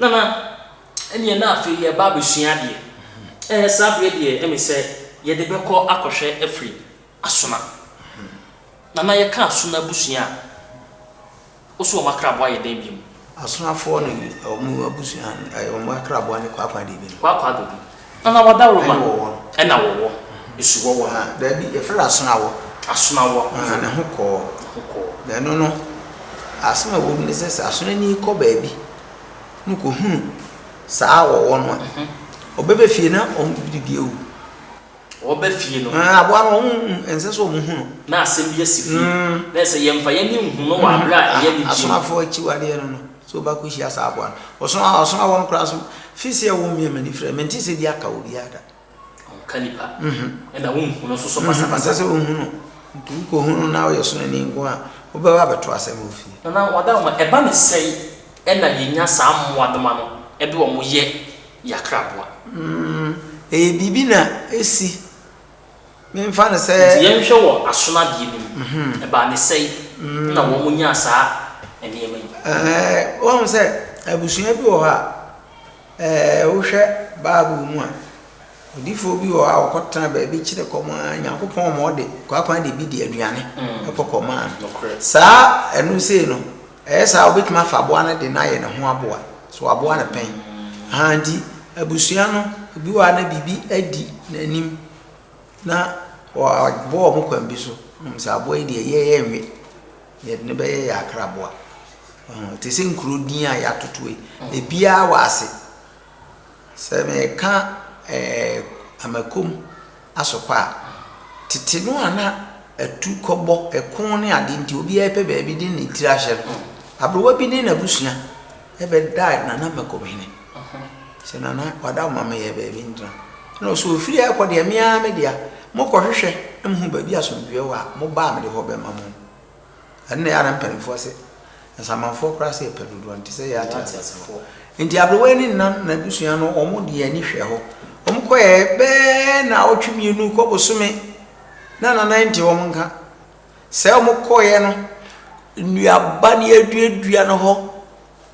Nana, ɛneɛ na afei yɛba abɛsua adeɛ. Ɛɛ, saa berɛ deɛ ɛme sɛ yɛde bɛkɔ akɔhwɛ afiri Asona. Nana, yɛka Asona abusua a. Wo so wɔn akraboa yɛ dɛn biom? Asonafoɔ ne wɔn abusua eh, wɔn akraboa ne kwaakwa deɛ bi no. Kwaakwa deɛ bi. Ana wadawuroma? Ɛna wɔwɔ. Ɛna wɔwɔ. Esu wɔwɔ. Ah, daabi, yɛfrɛ no asonawɔ. Asonawɔ. Ah, ne ho kɔɔ. Ne ho kɔɔ. Na ɛno no, asɛm a ɛwɔ mu ne sɛ sɛ asonani kɔ baabi na kɔhunu saa wɔwɔ no a, ɔbɛba fie na ɔmdidi awu. Wɔba fie no. Ɛɛ, aboa no, wɔn, ɛnsɛ sɛ wɔn hu no. Na asɛm bi asi fie. Mm. Na ɛsɛ sɛ yɛmfa yɛn ani nhu no wɔ abere a ɛyɛ anigye mu. Asomafo akyiwadeɛ no no, sɛ obi akɔhyia saa aboa no. Ɔsono a, ɔsono a ɛwɔ no koraa so, firi sɛ ɛwɔ mmea m'ani frɛ, mente sɛ bi aka wɔ biara da. Ɔnka nipa. Mhm. Ɛna wonhu no nso so Mhm, pasapasa. ɛnsɛ sɛ wɔhu no. Nti wokɔhu no na woyɛ sononi nko a, wobɛba abɛto asɛm wɔ fie. Nana, wɔada wo ma ɛba no sɛn na yɛnya saa mmoadoma no de wɔn yɛ. Yakra boa? Mm, ɛyɛ biribi na ɛsi. Memfa no sɛ. Nti yɛnhwɛ wɔ asonadeɛ no mu. Ɛbaa ne sɛi na wɔnyaa saa nneɛma yi? Ɛɛ, woahu sɛ abusua bi wɔ hɔ a, ɛɛ, wohwɛ Bible mu a, odiyifoɔ bi wɔ hɔ a ɔkɔtena baabi kyerɛ kɔm ara, Nyankopɔn ma ɔde kwaakwaadabi de aduane kɔ kɔmaa no. Nokorɛ. Saa ɛno sei no. Ɛyɛ saa a, wobɛtumi afa aboa no de no ayɛ ne ho aboa. So waboa no pɛn? Aha, nti abusua no, bi wɔ ha na biribi adi n'anim na wabɔ wɔn kwan bi so. Wonim sɛ aboa yi deɛ, yɛn yɛnwe. Deɛ yɛde no bɛyɛ yɛ akraboa. Ɔho, te sɛ nkuro din a yɛatoto yi, ebiara wɔ ase. Sɛ meka ɛɛ Amakom. asokɔ a, tete no a na atu kɔbɔ, ɛko ne ade nti obiara pɛ baabi de ne tiri ahyɛ no. Aberewa bi ne n'abusua bɛdaa Nana Mɛkɔmhene sɛ, Nana, wada wo ma meyɛ baabi ntena. Ɛnna ɔsɛ ɔfiri ha rekɔ deɛ, me ara me dea. Mokɔhwehwɛ na mohu baabi a asomdwoeɛ wɔ a, moba a mede hɔ bɛma mo. Ɛno na ɛyɛ a na mpanimfoɔ se, Nsamanfoɔ koraa se yɛpɛ dodoɔ nti sɛ yɛyɛ ateasefoɔ. Nti aberewa yi ne nna no n'abusua no wɔn de yɛn ani hwɛ hɔ. Wɔn kɔɛ bɛɛ naawɔtwe mmienu kɔ bosome na nana yi nte wɔn nka. Sɛ wɔn kɔɛ no, nnuaba ne aduadua no hɔ,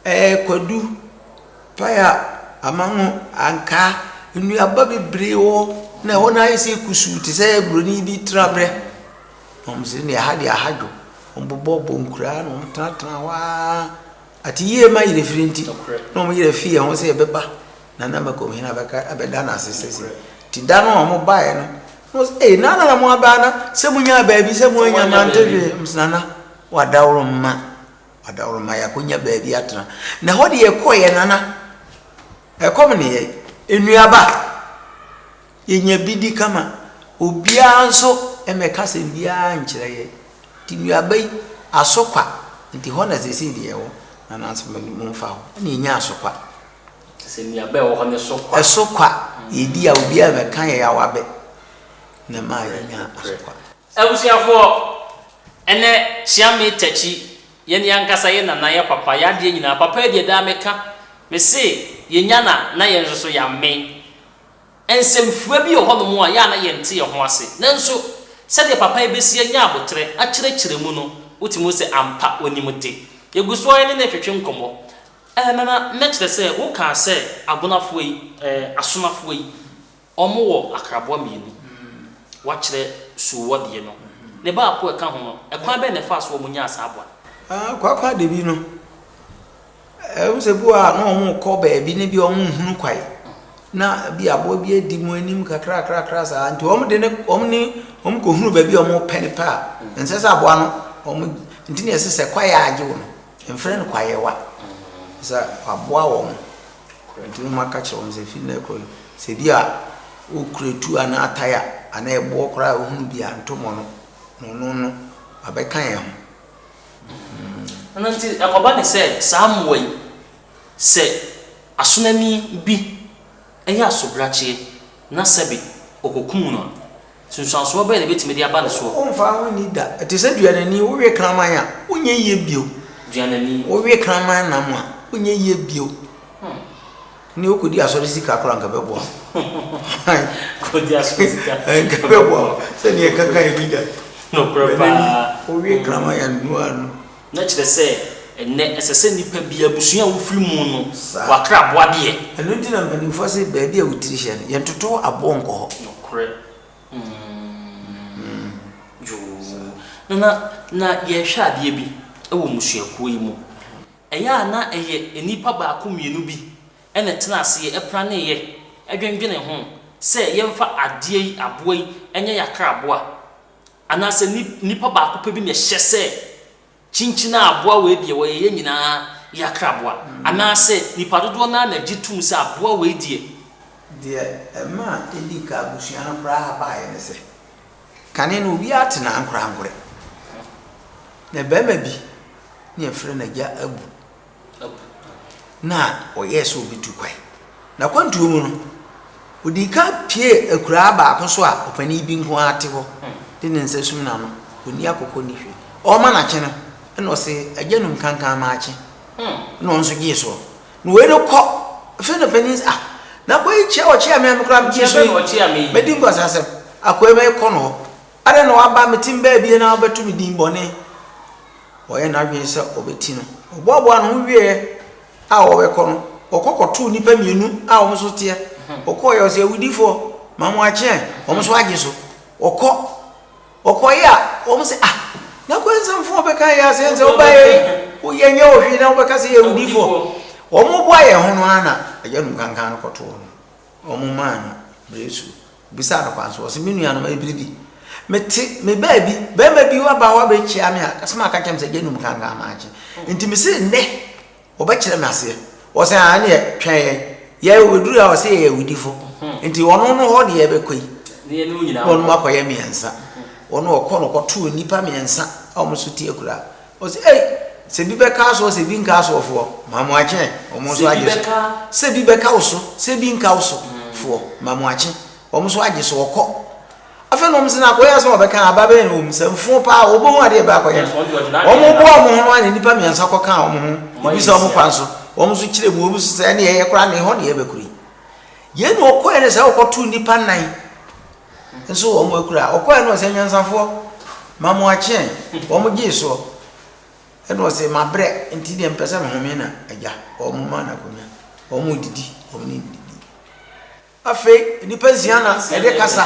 ɛɛ kwadu, paya, amango, ankaa, nnuaba bebree wɔ hɔ na ɛhɔ no ayɛ sɛ kusuu te sɛ buroni bi tenaberɛ. Wɔdze ndeɛ aha deɛ aha dwo. Wɔbobɔɔ bonkura na wɔtenatenaa hɔ ara. Atse yie ma yerɛ firi nti, na wɔn yerɛ fii ho sɛ yɛbɛba na na Mɛkɔm hene abɛka abɛda no ase sɛsi. Nti da no a wɔn baeɛ no, na wɔn sɛ, Ei, Nana na mo aba ana? Sɛ mo nyaa baabi sɛ mo anya mante hwee. Wɔn sɛ, Nana, wadaworo mma, wadaworo mma yɛakɔnya baabi atena. Na ɛhɔ deɛ yɛkɔeɛ Nana, ɛkɔm ne yɛn. Nnuaba. Yɛnya bi di kama. Obiara nso mmɛka asɛm biara nkyerɛ yɛn. Nti nnuaba yi, aso kwa, nti hɔ na seesei deɛ ɛwɔ, na nanso momfa hɔ. Ɛnna yɛnya aso kwa. Te sɛ nnuaba a ɛwɔ hɔ no so kwa. Ɛso kwa. Yɛdi a, obiara mmɛka yɛn awabɛ, na ɛma yɛnya aso kwa. Abusuafoɔ, ɛnnɛ, Kyeame Takyi, yɛn ankasa, yɛn nana, yɛn papa, yɛn adeɛ nyinaa, papa yi deɛ daa meka, mese yɛnya no a, na yɛn nso so yɛamen. Nsɛmfua bi wɔ hɔnom a ɛyɛ a na yɛnte yɛn ho ase, nanso sɛdeɛ papa yi bɛsi anya aboterɛ akyerɛkyerɛ mu no, wotumi hu sɛ ampa ɔnim de. Yɛgu so ara ne no retwetwe nkɔmmɔ. Ɛɛ, Nana, na kyerɛ sɛ wokaa sɛ Agbonafoɔ yi, ɛɛ, Asomafoɔ yi, wɔwɔ akraboa mmienu, woakyerɛ Suuwɔ deɛ no, ne baako a ɛka ho no, ɛkwan bɛn na ɛfaa so a wɔnyaa saa aboa no? Ɛɛ, Kwaakwaadabi no, Ɛwom sɛ bi wɔ hɔ a na wɔrekɔ baabi na ebia wɔnhunu kwan, na ebia aboa bi adi wɔn anim kakrakrakra saa nti wɔde ne wɔn ne wɔn kɔhunu baabi a wɔrepɛ no pɛ a, ɛnsɛ sɛ aboa no wɔn nti na ɛsɛ sɛ kwaeɛ a agye wo no, mfrɛ no kwaeɛwa sɛ waboa wɔn. Nti na wɔaka kyerɛ wɔn sɛ fi nnɛ kɔ sɛ bi a wokura tuo anaa atae a anaa ɛboɔ koraa a wohunu bi a ntomɔ no na ɔno no abɛka yɛn ho. Ɛno nti, ɛkɔba no sɛ saa mmoa yi, sɛ asonani bi yɛ asobrakyeɛ na sɛbe ɔkɔkum no a, nsunsuansoɔ bɛn na ɛbɛtumi de aba ne soɔ? Womfa ho nni da. Ɛte sɛ duanani, wowe kraman a, wonyɛ yie bio. Duanani. Wowe kraman nam a, wonyɛ yie bio. Ɛnde wokɔdi asɔre sika koraa nka ɛbɛboa wo. Nka ɛbɛboa wo sɛdeɛ ɛkaka ɛbi da. Nokorɛ paa. Wowie kraman a nu ara no. Na kyerɛ sɛ ɛnnɛ ɛsɛ sɛ nipa biara, abusua a wofiri mu no, wakra boa deɛ. Ɛno nti na mpanimfoɔ se baabi a wo tiri hyɛ no, yɛntoto aboɔ nkɔ hɔ. Nokorɛ. Yoo. Nana, na yɛrehwɛ adeɛ bi wɔ mmusuakuo yi mu. Ɛyɛ a na ɛyɛ nnipa baako mmienu bi na ɛtena aseɛ praneeɛ dwendwenee ho sɛ yɛmfa adeɛ yi, aboa yi, nyɛ yɛn akraboa. Anaasɛ ni, nipa baako pɛ bi na ɛhyɛ sɛ, kyinkyin a aboa wei deɛ wɔyɛ yɛn nyinaa yɛn akraboa. Anaasɛ nnipa dodoɔ no ara na gye tom sɛ aboa wei deɛ. Deɛ ɛmaa ɛdii kan abusua no koraa baeɛ ne sɛ. Kane no, obiara te no ankorankorɛ, na barima bi ne yɛfrɛ no Agya Abu na ɔyɛɛ sɛ ɔbɛtu kwan. N'akwantuo mu no, ɔdii kan pie akuraa baako so a ɔpanin bi nko ara te hɔ de ne nsa sum n'ano, ɔnni akokɔ nni hwee. Ɔrema no akye no, ɛna ɔse, Agya num kankan ma akye, ɛna ɔno nso gyee soɔ. Na wei no kɔ firi no panyin sɛ ah na akwa yi kyia ɔkyia me a me koraa me ti so yi mɛdi nkwansasɛm akwa yi mɛkɔ no hɔ adɛn na waba me tim baabie na wabɛto me din bɔne ɔyɛ n'adwene sɛ ɔbɛti no ɔboaboa ne ho wieɛ a ɔbɛkɔ no ɔkɔ kɔtoo nnipa mmienu a wɔn so teɛ ɔkɔɔ yɛ ɔsɛ awudifoɔ ma mo akyeɛ wɔn so agye so ɔkɔ Ɔkɔe a, wɔn se, Ah, n'akwansɛmfoɔ ɔbɛka yɛn asɛm sɛ woba yɛn ho, yɛnyɛ wo hwee na wobɛka sɛ yɛyɛ awudifoɔ. Wɔn reboa yɛn ho no ara na agyanom kankan no kɔtoo no. Wɔn maa no bere Yesu bisaa no kwan so. Ɔse, Me nuanom, ɛyɛ bere bi, mete me baabi, barima bi aba hɔ abɛkyia me a, asɛm a ɔka kyerɛɛ me sɛ agyanom kankan mankye. Enti mese nnɛ, Wɔbɛkyerɛ me aseɛ. Wɔse aa ɛneɛ twɛn yɛn. Yɛ wɔbɛduru a wɔse yɛyɛ awudifo. Nti wɔnom no hɔ deɛ yɛbɛkɔ yi. Na wɔnom akɔyɛ mmiɛnsa. Wɔnom wɔkɔ no wɔkɔtoo nnipa mmiɛnsa a wɔn so te akura. Wɔse ei sɛ bi bɛka soɔ sɛ bi nka soɔ foɔ ma mo akye ɛ. Wɔn nso agye so sɛ bi bɛka wo so sɛ bi nka wo so foɔ ma mo akye. Wɔn nso agye so wɔkɔ. afei na wɔn sɛ na akɔyɛ asɛm a wɔbɛka aba bɛyɛ na wɔn sɛ mfo paa wɔbɔ ho adeɛ bɛ akɔyɛ no wɔn boa wɔn ho no ayɛ nipa mmiɛnsa kɔ ka wɔn ho ebi sɛ wɔn kwan so wɔn nso kyerɛ mu wɔn nso sɛ ɛne ɛyɛ koraa na ɛhɔ na yɛbɛkura yi yɛn na ɔkɔɛ no sɛ ɔkɔto nipa nan nso wɔn akura ɔkɔɛ no sɛ nyansafoɔ ma mo akyeɛn wɔn gye soɔ ɛna ɔsɛ ma brɛ nti deɛ mpɛ sɛ mehome na agya wɔn ma na kɔnya wɔn didi wɔn ne didi Afei nnipa nsia na ɛde kasa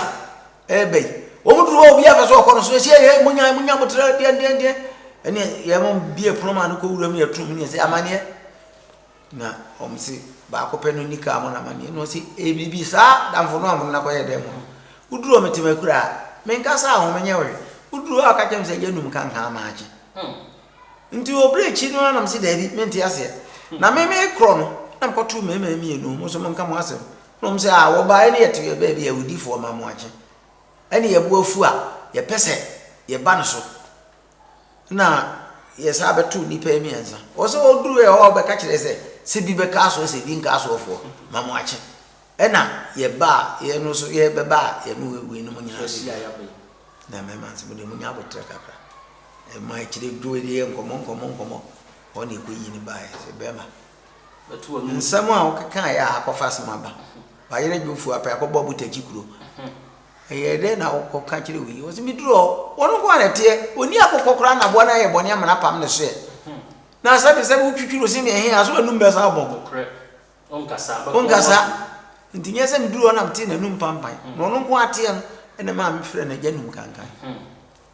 ɛreba yi. Wɔn duru hɔ obiara pɛ sɛ ɔkɔ no so. Ɛsɛ yɛ munya munya botere deɛ deɛ deɛ. Ɛne yɛ mo bie pono ma no kɔ wuram ne yɛturu mu ne yɛsɛ amaneɛ. Na wɔn se baako pɛ no ni kaa mo na amaneɛ. Na wɔn se ebibi saa damfo no a mo no nakɔyɛ dɛn mo no. Woduru wɔn tema kura a menkasa a wɔn nyɛ wɔhwɛ. Woduru hɔ a ɔka kyerɛ me sɛ yɛnum kankan maakye. Nti wɔ berɛ akyi no ara na mese daabi, mente aseɛ. Na me mekorɔ no, na mekɔtoo mmarima mmienu, mo nso monka mo asɛm. Na wɔn sɛ, ah, wɔbaeɛ ne yɛtoo yɛn baabi a awudifoɔ ma mo akye, ɛne yɛn bo afu a yɛpɛ sɛ yɛba no so, na yɛsan bɛtoo nnipa mmiɛnsa. Ɔsɛ ɔduruuɛ hɔ a ɔbɛka kyerɛɛ sɛ, sɛ bi bɛka asoɔ sɛ bi nka asoɔfoɔ, ma mo akye. Ɛna yɛba a yɛ no nso yɛ bɛba a yɛ ne wei no mo nyinaa bɛ hyia yɛ bɛ na mɛ ma nso mo deɛ mo nya abotrɛ kakra ɛma akyire dwo deɛ nkɔmɔ nkɔmɔ nkɔmɔ hɔ na ɛkɔ yi ne ba yɛ sɛ bɛma nsɛm a wɔkeka yɛ a akɔfa asɛm aba bayerɛ dwofuo apɛ akɔbɔ abotagyi kuro ɛyɛ dɛ na wokɔ ka kyerɛ wei wɔsɛ meduru hɔ wɔn nko ara ɛteɛ ɔni akokɔ koraa na aboa no ayɛ bɔne amena pam ne soɛ na sɛbesɛbe wotwitwiri ose ne ɛhe a so anum bɛsa abɔ Ɔnkasaa. Enti nyɛ sɛ meduruu hɔ na metee n'anum pampan, na ɔno nko ara teɛ no, ɛnna ɛmaa mefrɛɛ no agyanum kankan.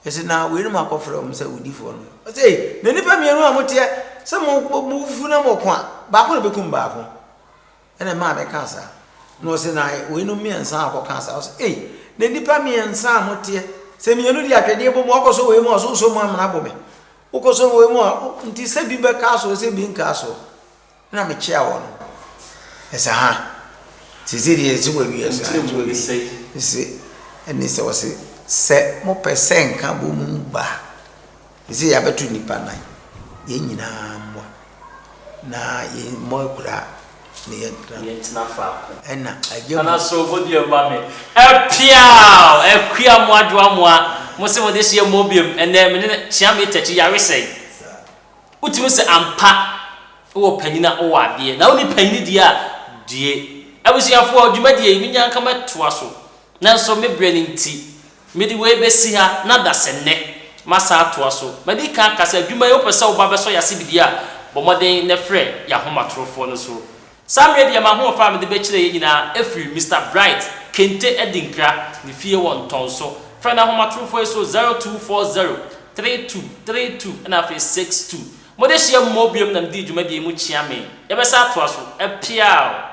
Yɛse, na weinom akɔfrɛ wɔn sɛ owudifoɔ no. Ɔse, ei, na nnipa mmienu a moteɛ sɛ mofufuo na moɔko a, baako na ɛbɛkum baako. Ɛnna ɛmaa mekaa saa. Na ɔse, na weinom mmiɛnsa a wɔkɔkaa saa. Ɔse, ei, na nnipa mmiɛnsa a moteɛ sɛ mmienu de atwedeɛ bɔ mu, wɔkɔsɔ wei mu a, ɔse, wosɔ mu amena bo me. Wokɔsɔ wei mu a, nti sɛ bi bɛkaa soɔ, sɛ bi nkaa soɔ. Nna mekyea wɔ no esa ha. Sesei deɛ yɛse wawie asa Nti ɛmu ne sɛi? Ese ɛne sɛ ɔse sɛ mopɛ sɛ nkabɔ mu ba a sesei yɛabɛto nnipa nan yɛn nyinaa mmɔ na yɛmmɔ akuraa na yɛntena Yɛntena faako. Ɛna agya mu. Anaso modeɛ mma me. Ɛpeaw! Akua amoa dwoa amoa. Mose mode hyeɛ mmɔ biom. Ɛnɛ mene no kyea me takyi yare sɛi. Wotumi se ampa wowɔ panyin a wowɔ adeɛ na wonni panyin deɛ a due. Abusuafoɔ, dwumadie yi menya nka mɛtoa so nanso me berɛ no nti mede wei bɛsi ha na dasɛ nnɛ masan atoa so. Madi kan aka sɛ adwuma yi wopɛ sɛ woba bɛsɔ yɛase biribi a bɔ mmɔden na frɛ yɛn ahomatorofoɔ no so. Saa mmerɛ deɛ m'ahoɔfɛ a mede bɛkyerɛ yɛn nyinaa afiri Mister Bright, Kente Adinkra, ne fie wɔ Ntɔnso. Frɛ n'ahomatorofoɔ yi so, 0240 32 32 ɛna afei 62. Mode hyia mu mɔ biom na medi dwumadie yi mu kyea me. Yɛbɛsan atoa so. Apiaw!